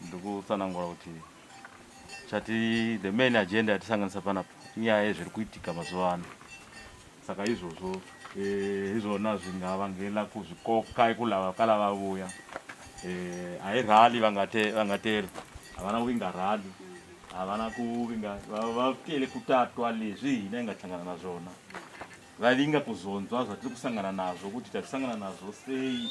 ndikutsanangura kuti chati the main agenda yatisanganisa panapa inyaya yezviri kuitika mazuva ano saka izvozvo eh, izvona zvingavangela kuzvikoka ikulava kala vavuya eh, hairali vangateri havana kuvinga rali havana kuvinga vakele kutatwa lezvi hina ingasangana nazvona vavinga kuzonzwa zvatiri kusangana nazvo kuti tatisangana nazvo sei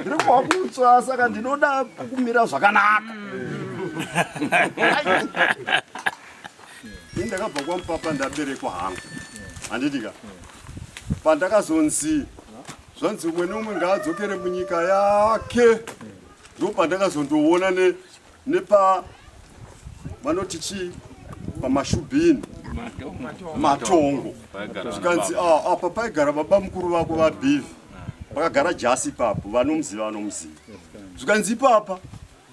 ndiri kuva kutswa saka ndinoda kukumira zvakanaka ini ndakabva kwamupapa ndaberekwa hangu handitika pandakazonzi zvanzi umwe neumwe ngaadzokere munyika yake ndopandakazondoona ne nepa vanoti chii pamashubhini matongo zvikanzi ah, apa paigara baba mukuru vako vabhivi vakagara jasi ipapo vanomuziva vanomuziva zvikanzi ipapa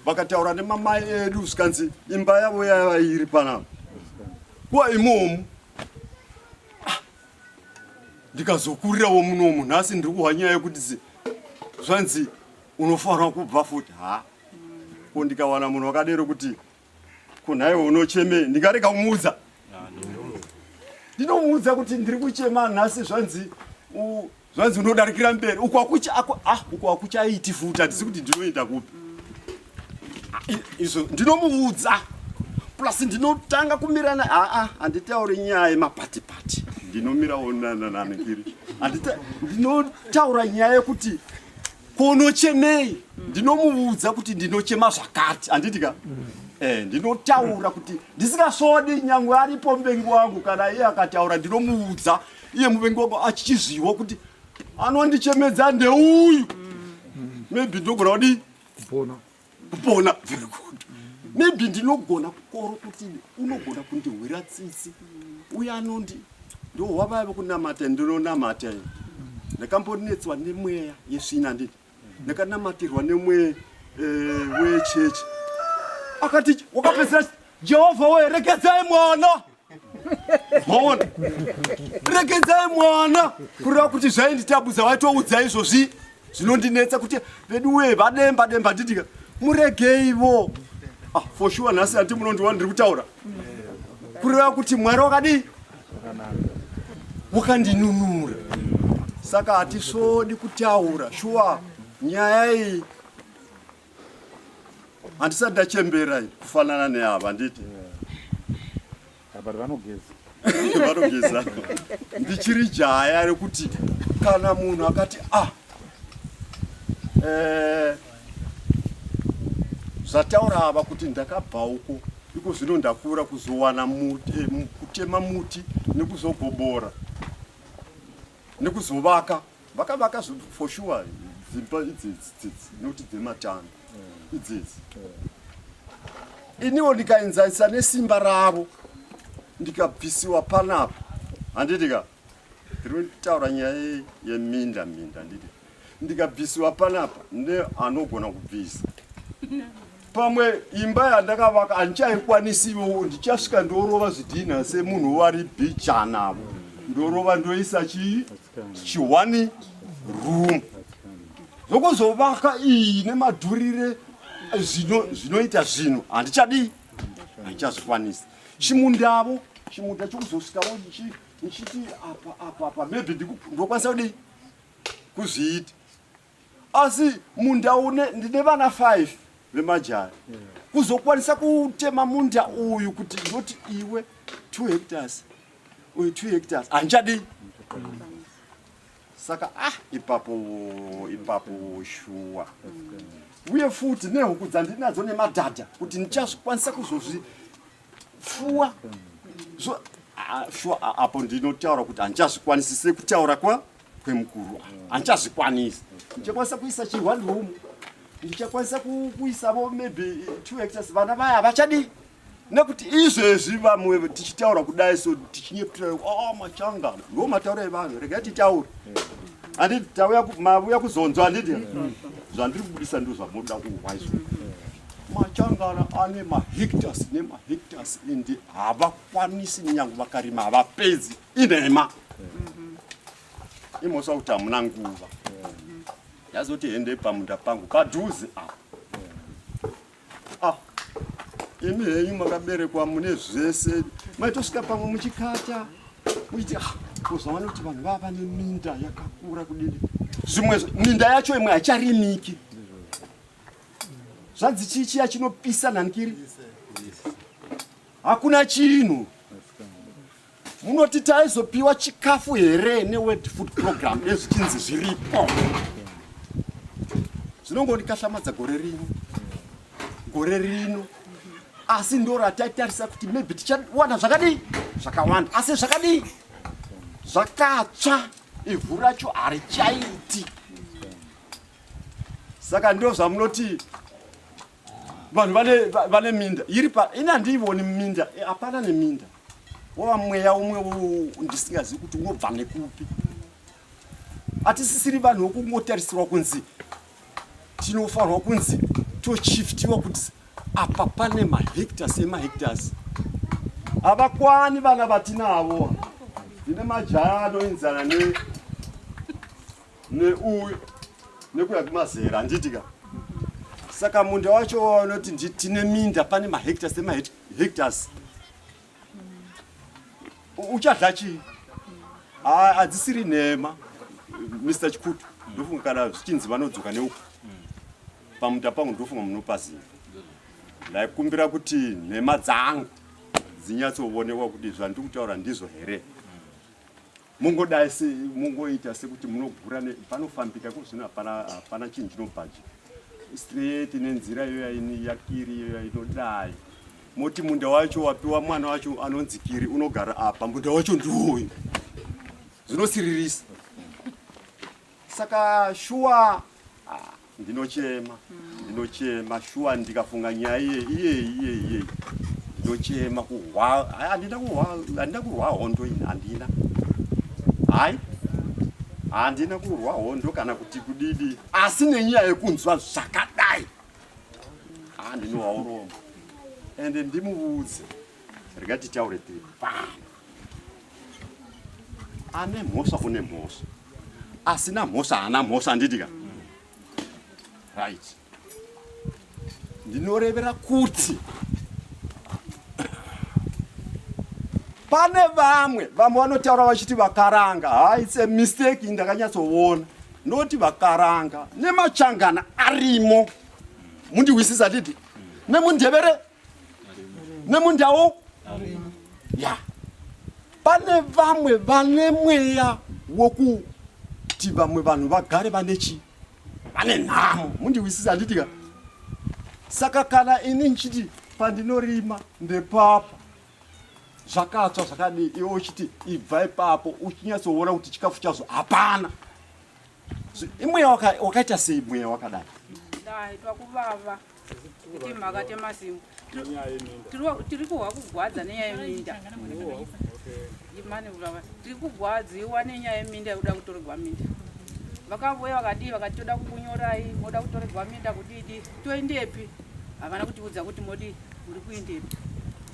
vakataura nemamai edu zvikanzi imba yavo yaiva iri panapa kuva imomu ah, ndikazokurirawo munomu nhasi ndiri kuhwa nyaya yekuti zvanzi unofanira kubva futi haa ko ndikawana munhu wakadero kuti ko nhaiwe unocheme ndingarega kumuudza ndinomuudza kuti ndiri kuchema nhasi zvanzi zvanzi unodarikira mberi uko akucha ako ah uko akucha iti futa ndisi kuti ndinoenda kupi izvo ndinomuudza plus ndinotanga kumirana aa ah, ah, handitauri nyaya yemapati pati ndinomirawo nanananangiri ndinotaura nyaya yekuti Kunochemei? Ndinomuudza kuti ndinochema zvakati, handiti ka? Eh, ndinotaura kuti ndisingasvodi nyangwe aripo muvengi wangu kana iye akataura ndinomuudza iye muvengi wangu achichizviwo kuti anondichemedza ndeuyu. Maybe ndogona kudii? Kupona. kupona very good maybe ndinogona kukoro kuti unogona kundihwira tsitsi uye anondi ndo wavaya vekunamata ndinonamata i ndakambonetswa nemweya yesvina ndii ndakanamatirwa nemweya eh, wechechi akati wakapedzera jehovha werekedzai mwana maona regedzai mwana kureva kuti zvainditambudza waitoudza izvozvi zvinondinetsa kuti vedu wee vademba demba ndidika muregeivo ah, for sure nhasi handi munondiwa ndiri kutaura kureva kuti mwari wakadii wakandinunura saka hatisvodi kutaura shuwa nyaya iyi handisati ndachembera kufanana neava handiti vanogeza ndichiri jaya rekuti kana munhu akati a ah, eh, zvataura ava kuti ndakabva uko iko zvino ndakura kuzowana eh, kutema muti nekuzogobora nekuzovaka Vakavaka for sure dzimba idzidzi dzidzi nekuti dzematano mm. idzidzi mm. iniwo ndikaenzanisa nesimba ravo ndikabvisiwa panapa handiti ka ndiri kutaura nyaya yeminda minda handiti ndikabvisiwa panapa neanogona kubvisa pamwe imba yandakavaka handichaikwanisiwo ndichasvika ndorova zvidhinha semunhu wari bichanavo ndorova ndoisa chii chiwani room zvokuzovaka iyi nemadhurire zvinoita zvinhu handichadii handichazvikwanisa chimundavo chimunda chokuzosvikawo ndichiti apa apa apa maybe ndokwanisa kudii kuzviita asi munda une ndine vana 5 vemajaya kuzokwanisa kutema munda uyu kuti ndoti iwe 2 hectares uyu 2 hectares handichadii saka ah ipapo ipapo shuwa uye futi nehuku dzandinadzo nemadhadha kuti ndichazvikwanisa kuzozvi pfuwa so sure apo ndinotaura kuti handichazvikwanisi sekutaura kwa kwemukuru handichazvikwanisi ndichakwanisa kuisa chihwani room ndichakwanisa kuisavo maybe two hectors vana vaya havachadii nekuti izvezvi vamwe tichitaura kudai so tichinyeputai o oh, machanga ndo mataura evanhu rega titaure anditi tauya mavuya kuzonzwa anditi zvandiri kubudisa ndo zvamoda kuhwa izvo Machangara ane mahectares nemahectares ende havakwanisi nyange vakarima havapedzi inhema mhm. imosa kuti hamuna nguva yazoti hende pamunda pangu padhuze apa ah, imi henyu makaberekwa mune zvese maitosvika pamwe muchikata muchiti ah, kuzoona kuti vanhu vava neminda yakakura kudini zvimwe minda yacho imwe haicharimiki zvanzi chii chiya chinopisa nhanikiri hakuna chinhu munoti taizopiwa chikafu here neworld food program ezvichinzi zviripo zvinongonikahlamwadza gore rino gore rino asi ndo rataitarisa kuti maybe tichawana zvakadii zvakawanda asi zvakadii zvakatsva ivhu racho harichaiti saka ndo zvamunoti vanhu vane minda iri pa ini handiivoni minda eh, hapana neminda wava mweya umwe ndisingazivi kuti unobva nekupi hatisisiri vanhu wokungotarisirwa kunzi tinofanirwa kunzi tochiftiwa kuti apa pane mahectars emahectars havakwani vana vatinavo ndine majaya anoinzana ne neuyu nekuda kwemazera handiti ka saka munda wacho waunoti nditine minda pane mahectars nemahectars uchadla chii hadzisiri nhema mr chikutu ndofunga kana zvichinzi vanodzoka neuku pamunda pangu ndofunga munopaziva ndaikumbira kuti nhema dzangu dzinyatsoonekwa kuti zvandiri kutaura ndizvo here Mungodai se mungoita sekuti munogura ne panofambika kuzvino hapana hapana chinhu chinobhaji straight nenzira iyo yaini yakiri iyo yainodai moti munda wacho wapiwa mwana wacho anonzi kiri unogara apa munda wacho ndiwoyo zvinosiririsa saka shuwa ndinochema ndinochema shuwa ndikafunga nyaya iye iye iye iye ndochema kuhwa hayi handina kuhwa handina kurwa hondo ini handina hayi handina kurwa hondo kana kuti kudidi asi nenyaya yekunzwa zvakadai haa ndinohwa urombo ende ndimuudze rega titaure tiri pano ane mhosva une mhosva asina mhosva haana mhosva anditika right ndinorevera kuti pane vamwe vamwe vanotaura vachiti vakaranga haise mistake ndakanyatsoona noti vakaranga nemachangana arimo mundiwisisa didi nemundevere nemundawo ya pane vamwe vane mweya wokuti vamwe vanhu vagare vane chi vane nhamo mundiwisisa handitika saka kana ini ndichiti pandinorima ndepapa zvakatsva zvakadii iwe uchiti ibva ipapo uchinyatsoona kuti chikafu chazvo hapana imweya wakaita sei mweya wakadai ndaitwa kuvava kuti mhaka temasimu tiri kuhwa kugwadza nenyaya yeminda tiri kugwadziwa nenyaya yeminda yekuda kutoregwa minda vakavuya vakadii vakati toda kukunyorai moda kutoregwa minda kudidi toendepi havana kutiudza kuti modi muri kuendepi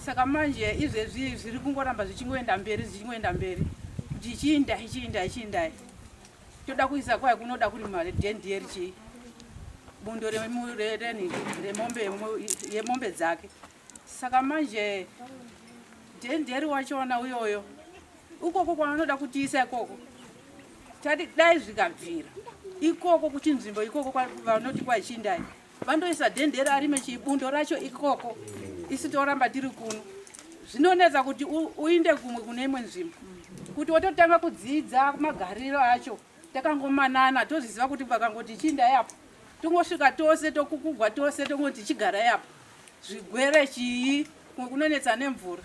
saka manje izvezvi zviri kungoramba zvichingoenda mberi zvichingoenda mberi kuti ichiindai chiindai chiindai toda kuisa kwai kunoda kuri mari dendieri chii bundo remurereni remombe yemombe dzake saka manje denderi wachona uyoyo ukoko kwaanoda kutiisa ikoko tati dai zvikabvira ikoko kuchinzvimbo ikoko vanoti kwaichindayi vandoisa dende rarime chibundo racho ikoko isi toramba tiri kuno zvinonetsa kuti uinde kumwe kune imwe nzvimbo kuti wototanga kudzidza magariro acho takangomanana toziziva kuti vakangoti chiindai apo tongosvika tose tokukugwa tose tongoti chigarai apo zvigwere chii kumwe kunonetsa nemvura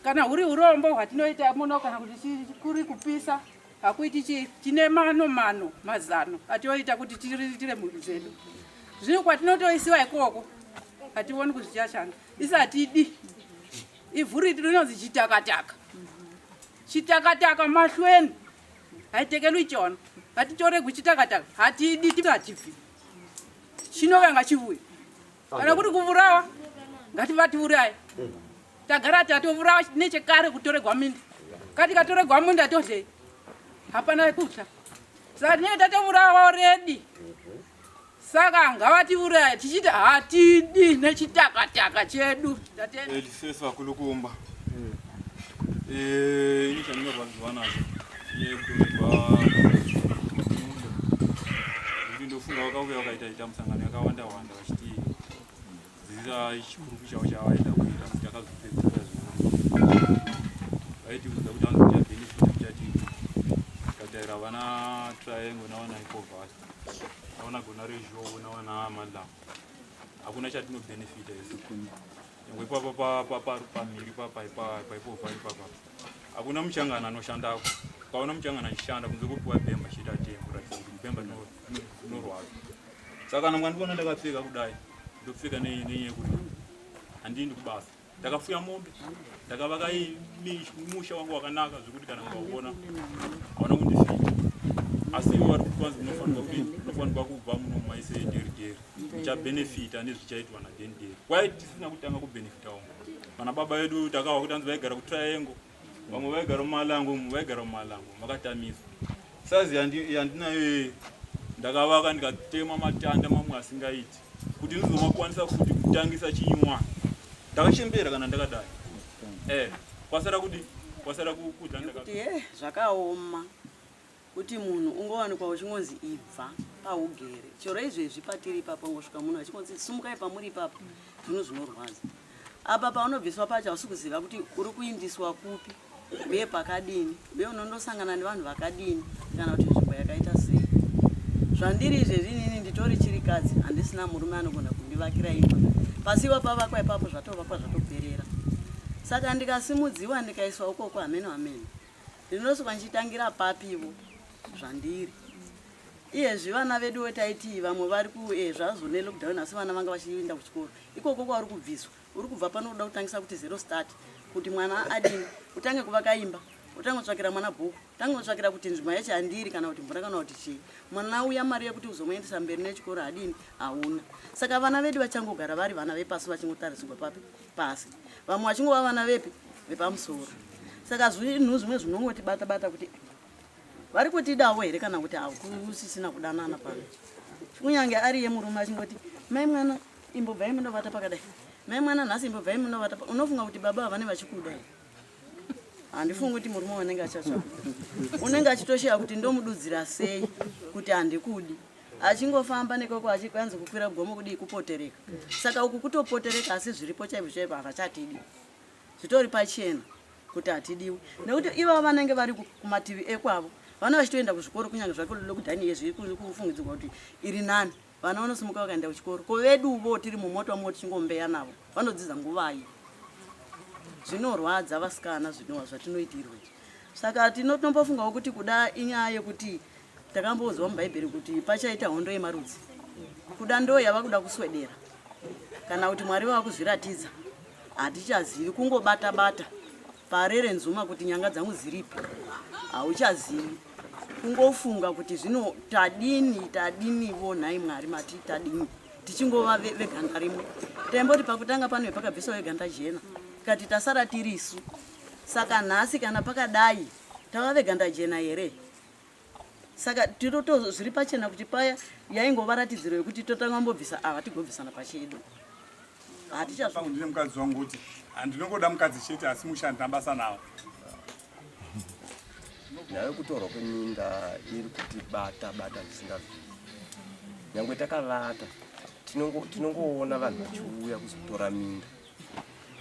kana huri urombo hwatinoita muno kana kuti kuri kupisa hakuiti chii tine mano mano mazano atioita kuti tiriritire mhuri dzedu zvino kwatinotoisiwa ikoko hationi kuti zvichashanda isi hatidi ivhu riti rinonzi chitakataka chitakataka mahlweni haitekelwi chona hatitoregwi chitakataka hatidi tiatibvi chinokanga chivuya kana kuti kuvurawa ngativatiuraye tagara tatovurawa nechekare kutoregwa minda katikatorerwa munda tozei hapana kutya saka tinenge tatovurawa redi saka ngavatiuraya tichiti hatidi nechitakataka chedu tatelisesu vakulu kumba hmm. eh, ini chandinorwadziwa nazvo yekutorerwa ndofunga wakauya wakaita ita musangano yakawanda wanda vachiti dzidzisa chikuru chavo chavaida kuita kuti akazopedzera vaitiudza kuti anoti abenefit kuchati kataira vana triangle nawana icovas nawana gona rezho nawana madlam hakuna chatinobenefita isi nyangwe ipapa pamhiri paipaipovhari papa hakuna muchangana anoshandako ukaona muchangana achishanda kunze kupiwa bemba chita tembo ratidza kuti bemba tinoa saka kana mwandiona ndakapfeka kudai ndopfeka nenyaya kuti handiendi kubasa ndakafuya mombe ndakavaka musha wangu wakanaka zvekuti kana mukauona haona kundifita asi ivo vari kwanzi munofanirwa kudii munofanirwa kubva muno maise deri deri muchabhenefita nezvichaitwa nadeni deri kwai tisina kutanga kubhenefita umo vana baba vedu takawa kuti anzi vaigara kutriangle vamwe vaigara mumalango umu vaigara mumalango makatamiswa saizi yandinayo yeye ndakavaka ndikatema matanda mamwe asingaiti kuti ndizomakwanisa kuti kutangisa chinywa ndakachembera kana ndakadai eh, kwasara kudi kwasara kudla ndakati eh, zvakaoma Kuti munhu ungowanikwa uchingonzi ibva paugere chero izvezvi patiri ipapa ungosvika munhu achingonzi sumukai pamuri ipapa zvinhu zvinorwadza apa paunobviswa pacho hausi kuziva kuti uri kuindiswa kupi uye pakadini uye unondosangana nevanhu vakadini kana kuti nzvimbo yakaita sei zvandiri izvezvi inini nditori chirikadzi handisina murume anogona kundivakira imba pasi iwa pavakwa ipapo zvatovakwa zvatoperera saka ndikasimudziwa ndikaiswa ukoko hameno hameno Ndinosuka ndichitangira papi ivo zvandiri. Iyezvi vana vedu wetaiti vamwe vari kuezvazvo eh, nelockdown asi vana vanga vachienda kuchikoro. Ikoko kwauri kubviswa. Uri kubva pano kuda kutangisa kuti zero start kuti mwana adini utange kuvaka imba utangotsvakira mwana bhuku tangotsvakira kuti nzvimbo yacho handiri kana kuti mvura kana kuti chii mwana uya mari yekuti uzomuendesa mberi nechikoro adini hauna saka vana vedu vachangogara vari vana vepasi vachingotarisirwa papi pasi vamwe vachingova vana vepi vepamusoro saka zvinhu zvimwe zvinongotibata bata kuti vari kutidawo here kana kuti hakusisina kudanana pano kunyange ari ye murume achingoti mai mwana imbobvai munovata pakadai mai mwana nhasi imbobvai munovata unofunga kuti baba havane vachikuda here handifungi kuti murume wanenge achatsvaka unenge achitosheya kuti ndomududzira sei kuti handikudi achingofamba nekoko achikanzi kukwira gomo kudii kupotereka saka uku kutopotereka asi zviripo chaizvo chaizvo havachatidi zvitori pachena kuti hatidiwi nekuti ivavo vanenge vari kumativi ekwavo vana vachitoenda kuzvikoro kunyange zvake lilo kudhani yezvi kufungidzirwa kuti iri nani vana vanosimuka vakaenda kuchikoro ko veduvo tiri mumota wamwe tichingombeya navo vanodzidza nguvai zvinorwadza vasikana zvinova zvatinoitirwa saka tinotombofungawo kuti kuda inyaya yekuti takamboudzwa mubhaibheri kuti pachaita hondo yemarudzi kuda ndo yava kuda kuswedera kana kuti mwari vava kuzviratidza hatichazivi kungobata bata parere nzuma kuti nyanga dzangu dziripi hauchazivi kungofunga kuti zvino tadini tadinivo nhai mwari mati tadini tichingova veganda rimwe taimboti pakutanga pano pakabviswa veganda jena kati tasara tirisu saka nhasi kana pakadai tava veganda jena here saka tinoto zviri pachena kuti paya yaingova ratidziro yekuti totanga mbobvisa ava tigobvisana pachedu hatichazvangu ndine mukadzi wangu kuti handinongoda mukadzi chete asi mushandi nabasa nawo nyaya yekutorwa kweminda iri kuti bata bata zvisingabvii nyange takavata tinongoona vanhu vachiuya kuzotora minda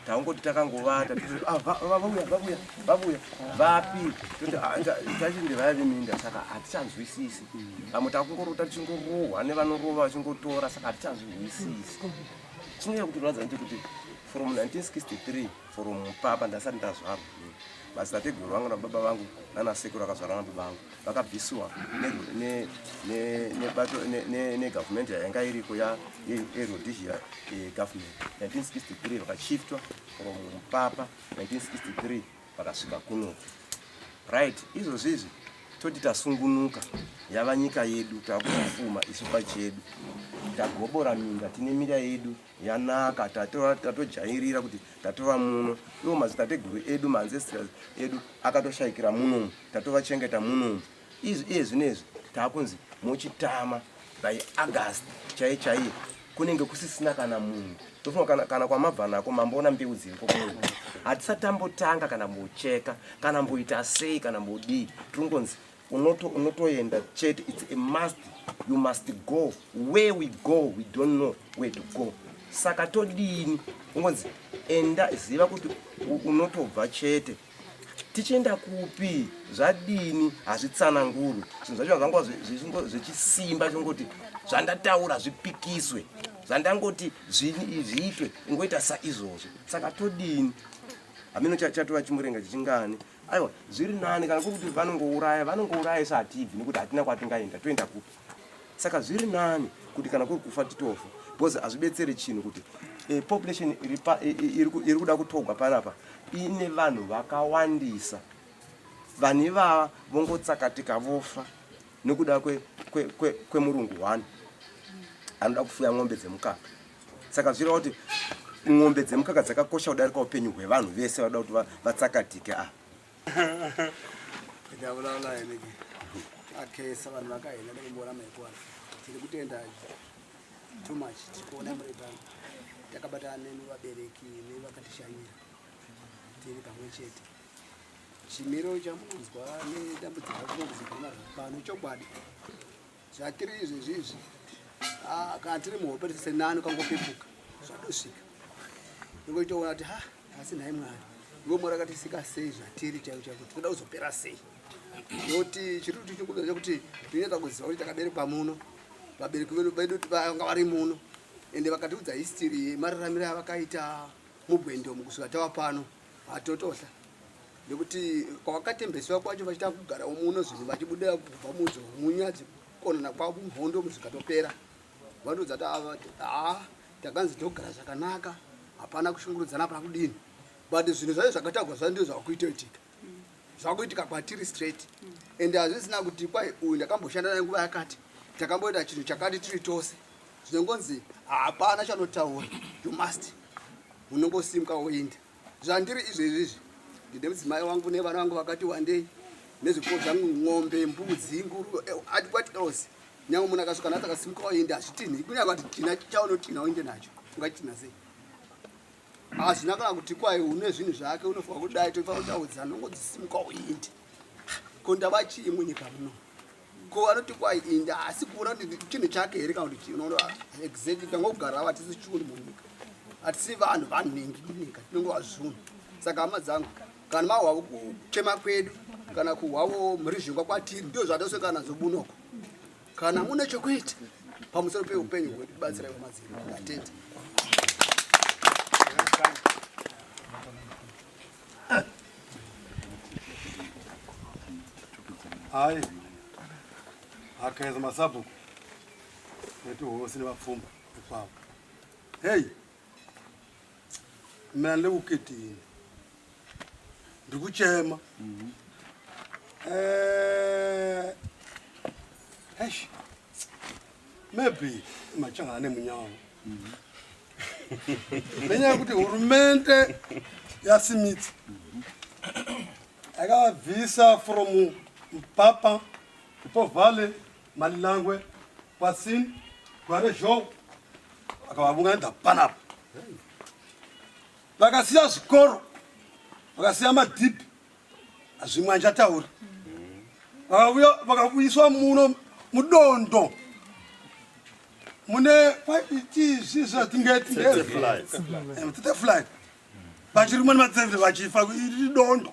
taungoti takangovata ah, vavuya vavuya vavuya vapi toti ah, tachinde vaya veminda saka hatichanzwisisi vamwe takungorota tichingorohwa nevanorova vachingotora saka hatichanzwisisi chinonyanya kutirwadza nje kuti from 1963 from papa ndasati ndazvarwa madzitateguru vangu nababa vangu nanasekuru akazvarwa nababa vangu vakabvisiwa nebato negavhumende yanga iriko yerhodesia eh, government 1963 vakachiftwa from mupapa 1963 vakasvika kuno right izvozvi izvi toti tasungunuka yava nyika yedu takufuma isu pachedu tagobora minda tine mira yedu yanaka tatova tatojairira kuti tatova muno iwo mazitateguru edu maancestors edu akatoshayikira munomu tatovachengeta munomu izvi iye zvinezvi taakunzi mochitama by august chaiye chaiye kunenge kusisina kana munhu tofunga kana, kana kwamabva nako mamboona mbeu dziriko kuno hatisatambotanga kana mbocheka kana mboita sei kana mbodii tiringonzi unoto unotoenda chete it's a must you must go where we go we don't know where to go saka todini ungonzi enda ziva kuti unotobva chete tichienda kupi zvadini hazvitsanangurwi zvinhu zvacho zvangwa zvechisimba zvingoti zvandataura zvipikiswe zvandangoti zviitwe ingoita saizvozvo saka todini hameno chatova chimurenga chichingani aiwa zviri nani kana kuri kuti vanongouraya vanongouraya sa hatibvi nekuti hatina kwatingaenda toenda kupi saka zviri nani kuti kana kuri kufa titofa because hazvibetsere chinhu kuti e, population iri kuda kutogwa panapa ine vanhu vakawandisa vanhu ivava vongotsakatika vofa nekuda kwemurungu kwe, kwe, kwe one anoda kufuya n'ombe dzemukaka saka zvireva kuti mombe dzemukaka dzakakosha kudarika upenyu hwevanhu vese vada kuti vatsakatike a akesa vanhu vakahena nekumboona maikwana tiri kutenda too much tiri kuona murebano takabatana nemi vabereki nevakatishanyira tiri pamwe chete chimiro chamunonzwa nedambudziko zvinonzikana pano chokwadi zvatiri izvezvi izvi ah, kana tiri muhope tese nani ukangopepuka zvatosvika ndokoitoona kuti ha asi nhai mwari ivo mwari akatisika sei zvatiri chaiko chaiko tinoda kuzopera sei noti chiri kuti chikuda chekuti tineta kuziva kuti takaberekwa muno vabereki vedu vedu vanga vari muno ende vakatiudza history yemararamiro yavakaita mugwendomo kusvika tava pano Vatotosha nekuti kwavakatembeswa kwacho vachita kugara muno zvinhu vachibuda kubva mudzo munyadzi konana kwavo mhondo muzvikatopera vanodza tavati haa takanzi togara zvakanaka hapana kushungurudzana hapana kudini but zvinhu zvacho zvakatagwa zva ndizvo zvakuita itika zvakuitika kwatiri straight and hazvisina kuti kwai uyu ndakamboshanda naye nguva yakati takamboita chinhu chakati tiri tose zvinongonzi hapana chanotaura you must unongosimka woinda zvandiri izvezvi izvi ndine mudzimai wangu nevana vangu vakati wandei nezviko zvangu ng'ombe mbudzi nguru eh, ati kwati else nyange munhu akasvika nati akasimuka woinda hazvitinhi kunyangati tina chaunotinha woinde nacho ungatinha sei hazvina kana kuti kwaye une zvinhu zvake unofanira kudai tofanira kutaudza nongo dzisimuka uindi ko ndava chii munyika muno ko vanoti kwayi indi asi kuona kuti chinhu chake here kana kuti chii unoona exactly tangogarawo hatisi chunhu munyika hatisi vanhu vanhingi munyika tinonge vazvunhu saka hama dzangu kana mahwavo kuchema kwedu kana kuhwavo mhirizhingwa kwatiri ndio zvatoswekana nadzo bunoko Kana mune chokuita pamusoro peupenyu hwedu batsirai vamadziri atete. Hai akaedza masabhuku netihosi nevapfumba ikwavo. Hei, Mina ndikukitini. Ndikuchema. Mhm. Eh. Eish. Maybe machanga ane munyawo. Mhm. Nenyaya kuti hurumende yasimidza. Mhm. Akabvisa from Papa, Papa Valley Malilangwe, Patsin, Gware Zhou akavavunganidza panapa. Vakasiya zvikoro, vakasiya madhipi, zvimwe anjataura. Vakavuyiswa muno mudondo mune kwaitiizvizvatingetingetetefuline vachiri mani matsevere vachifa iri dondo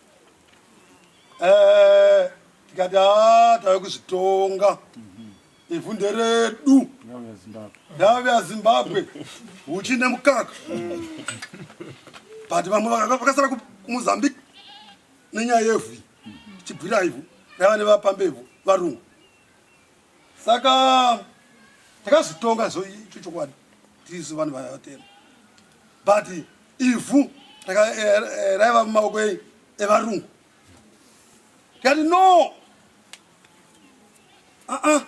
eh, tikati haa tave kuzvitonga ivhu nderedu ndave yazimbabwe uchi nemukaka but vamwe vakasara kumozambique nenyaya yevhu chibvira ivhu rava nevapambevhu varungu saka takazotonga so icho chokwadi tisu vanhu vatema but ivhu eh, eh, raiva mumaoko evarungu tikati no aa ah, ah,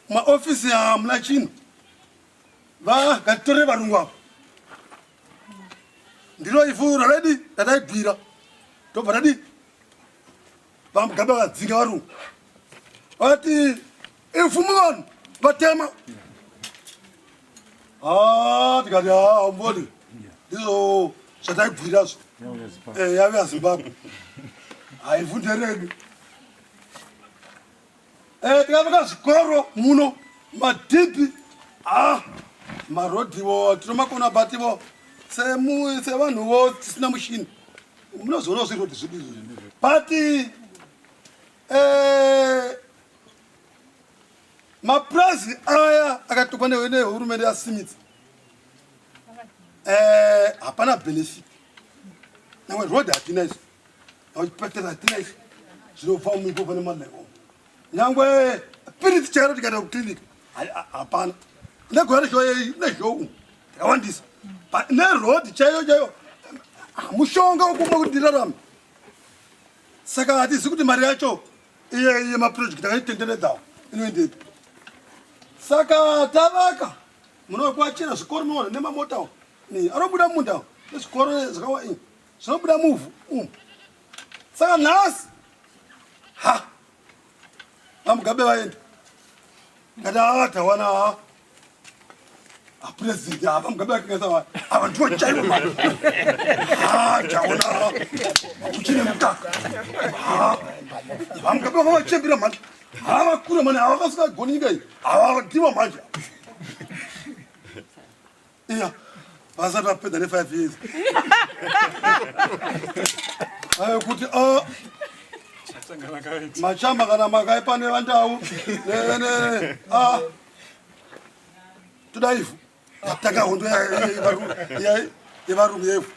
maofisi hamuna chinhu vakatitore varungu avo ndiro ivhu raredi rataibvira tobva tadii VaMugabe vadzinga varungu vati imvumo vanhu vatema ah, tikati ah, mboni ndizvo zvataibvuirazvo eh, yave yazimbabwe haivhunderedu Eh, tikavaka zvikoro muno madhipi ah, marodhiwo tinomakona but ivo sevanhuwo tisina mushini munozoonawo zvirodhi zvedu izvozvi but eh, mapurazi aya akatokwa nehurumende yasimidza eh, hapana benefit nawe road hatina izvo Vachipetera tinaisi zvinobva muiko pane malevo. Nyangwe piritsi chero tikaenda kuclinic hapana. Negore reshow yeyi neshow yakawandisa. Neroad chaiyo chaiyo mushonga wokumwa kuti ndirarame. Saka hatizivi kuti mari yacho iye iye maproject akaitenderedzawo inoendepi. Saka tavaka munokwachira zvikoro muno nemamotawo anobuda mumunda nezvikoro zvakawa ini Zvinobuda muvhu umu. Saka nhasi ha vamugabe vaenda ngati ava tawana haa apresident ava mugabe vakengesa va ava ndivo chaivo ma ha taona haa kuchine mutaka ha vamugabe vava vachembira mhani haa vakure mani havakasika goni nyika iyi ava ndivo manje iya vasati vapedza nefive years ayo kuti o machamba kana makaipa nevandau toda ivhu yatanga hondo yevarungu yevhu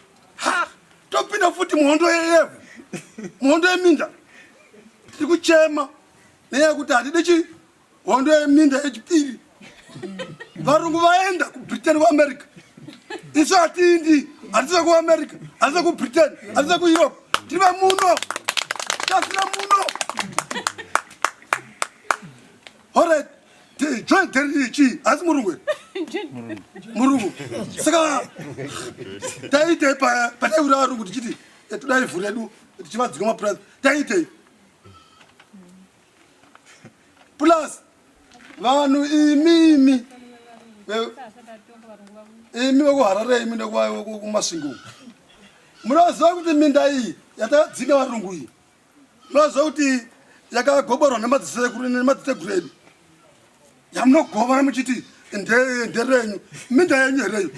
topinda futi muhondo yevhu muhondo yeminda tiri kuchema nenyaya yekuti hatide chii hondo yeminda yechipiri varungu vaenda kubritain kuamerica isu hatiindi hatisa kuamerica hatisa kubritain hatisa kueurope tiri vamuno tasira muno orit join teriri chii asi murungu here murungu saka taiitei pataiura varungu tichiti eh, toda ivhu redu tichivadzika mapurazi taiitei plus vanhu imi imi imi vekuharare imi nekumasvingo munoziva kuti minda iyi yatadzinga varungu iyi munoziva kuti yakagoborwa nemadzisekuru nemadziteguredu yamunogovana muchiti nderenyu minda yenyu hereyo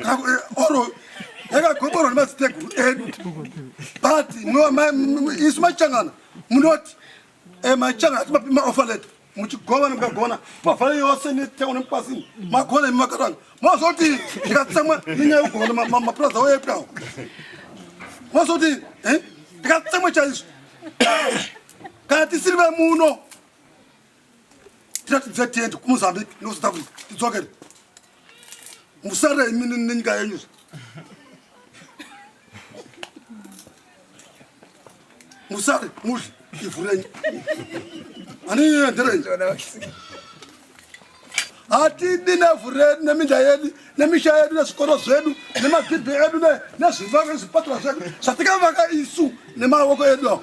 eh, oro yakagoborwa nemadziteguru edu but isu machangana munoti eh, machangana atimapi maofa leto muchigovana mukagona pavhara yose netauni mupasini magona imi makatanga mazoti ndikatsamwa inyaya yekugovana mapurazi awo yepwawo mazoti eh, ndikatsamwa chaizvo kana tisiri vemuno tira tibve tiende kumozambique nekusouth africa tidzokere musarei mini nenyika yenyu musare mudli ivhu renyu anienderenyi hatidi nevhu redu neminda yedu nemisha yedu nezvikoro zvedu nemagidhi edu nezvipatara zvedu zvatikavaka isu nemaoko edu awo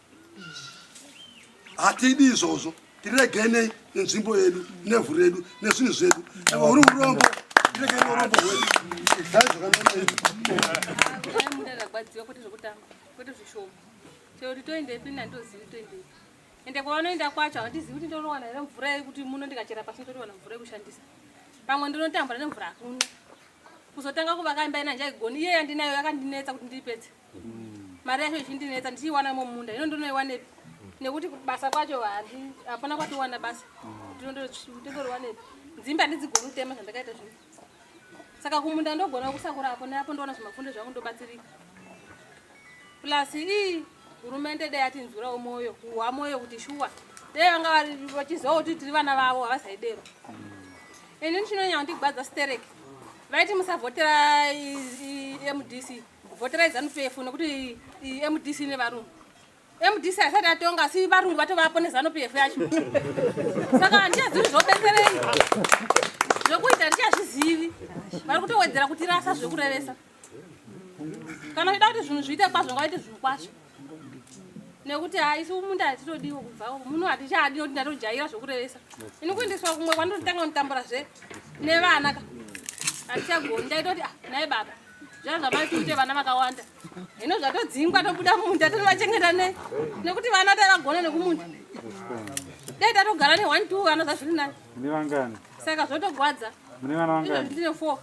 hatidi izvozvo tiregenei nenzvimbo yedu nevhu redu nezvinhu zvedu ava uri urombo tiregei neurombo hwedu dai zvakanoende kwavanoenda kwacho handizivi kuti ndinowana here mvura yekuti muno ndikachera pasi ndotowana mvura yekushandisa pamwe ndinotambura nemvura hakuna kuzotanga kuvaka imba ina njaigoni iye yandinayo yakandinetsa kuti ndiipedze mari yacho ichindinetsa ndichiiwana mumunda ino ndinoiwanepi nekuti basa kwacho hapana kwatiwana basa ndinondoriwanepi dzimba ndidzigoni kutema zvandakaita zvino saka kumunda ndogona kusakura apo neapo ndoona zvimafundo zvangu ndobatsirika plus ii hurumende dai atinzwirawo mwoyo kuhwa mwoyo kuti shuwa dai vanga vachizivawo kuti tiri vana vavo havasaidero ini ndichinonyanya kundigwadza stereki vaiti musavhotera mdc Voterai zanu PF nekuti MDC ine varungu. MDC asati atonga asi varungu vatovapo nezanu PF yacho. Saka handina zvinhu zvobetserei. Zvekuita handichazvizivi. Vari kutowedzera kutirasa zvekurevesa. Kana uchida kuti zvinhu zviite kwazvo ngaite zvinhu kwazvo. nekuti haisi umunda hatitodiwo kubva umu muno hatichadi nokuti ndatojaira zvokurevesa ini kuendeswa kumwe kwandotanga kunditambura zve nevana ka hatichagoni ndaita kuti ah, naye baba zvaa zvamai kuite vana vakawanda hino zvatodzingwa tobuda munda tonovachengeta nei nekuti vana tavagona nekumunda dai tatogara ne one two vana zvazviri nani saka zvotogwadza ndine four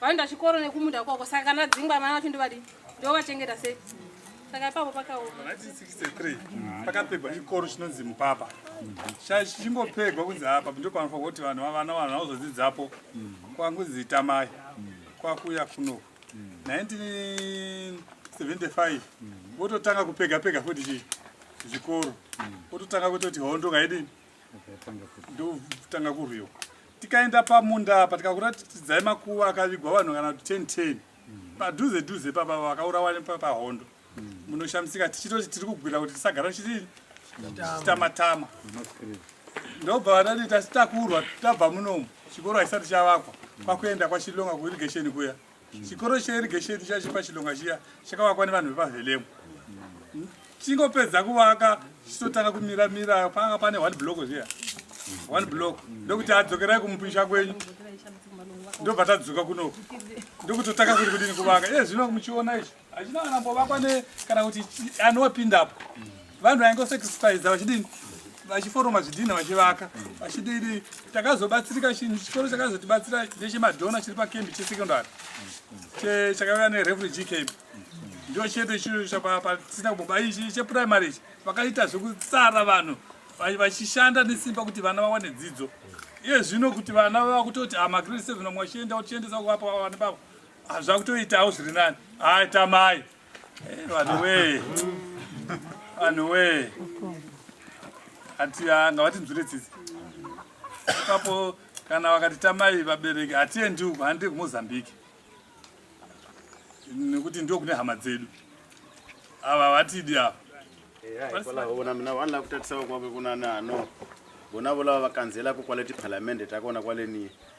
vaenda chikoro nekumunda kwako saka kana dzingwa vana vacho ndovadii ndovachengeta sei saka ipapo pakaoma 1963 pakapegwa chikoro chinonzi mupapa chichingopegwa kunzi apa ndopanofa kuti vanhu vavana vanhu vanozodzidzapo kwangunzi tamai kwakuya kuno 1975 vototanga kupega pega futi chii zvikoro vototanga kutoti hondo ngaidini ndotanga kurwiwa tikaenda pamunda apa tikakuratidzai makuva akavigwa vanhu kana kuti ten ten padhuze dhuze papa vakaurawa pahondo munoshamisika tichitoti tiri kugwira kuti tisagara chii chitamatama ndobva vadati tasi takurwa tabva munomu chikoro haisati chavakwa kwakuenda kwachilonga kuirigesheni kuya chikoro cheirigesheni chiya chiri pachilonga chiya chakavakwa nevanhu vepavhelemu chingopedza kuvaka chichitotanga kumira mira panga pane one block zviya one block ndokuti adzokerai kumupisha kwenyu ndobva tadzuka kunoku ndokutotanga kuri kudini kuvaka iye zvino muchiona izvi achina kana mbovakwa ne kana kuti anopindapo vanhu vaingo sacrifice vachidini vachiforoma zvidhinha vachivaka vachidini takazobatsirika chinhu chikoro chakazotibatsira nechemadhona chiri pakembi chesecondary chakauya nerefugee camp ndio chete chiro chapatisina kuboba ichi cheprimary ichi vakaita zvekutsara vanhu vachishanda nesimba kuti vana vawane dzidzo iye zvino kuti vana vava kutoti amagrade ah, seven vamwe vachienda vachiendesa kuvapa vavane bavo Ah, zvakutoitawo zviri nani hai tamai eh, vanhu wee vanhu wee ati ah, ngavatinzwire tsitsi ipapo kana vakati tamai vabereki hatiendi uku handii kumozambiki nekuti ndo kune hama dzedu ava vatidi ava vonavolavakutatisavakwake kunani ano vonavolavavakanzela kukwaleti palamende takaona kwaleniye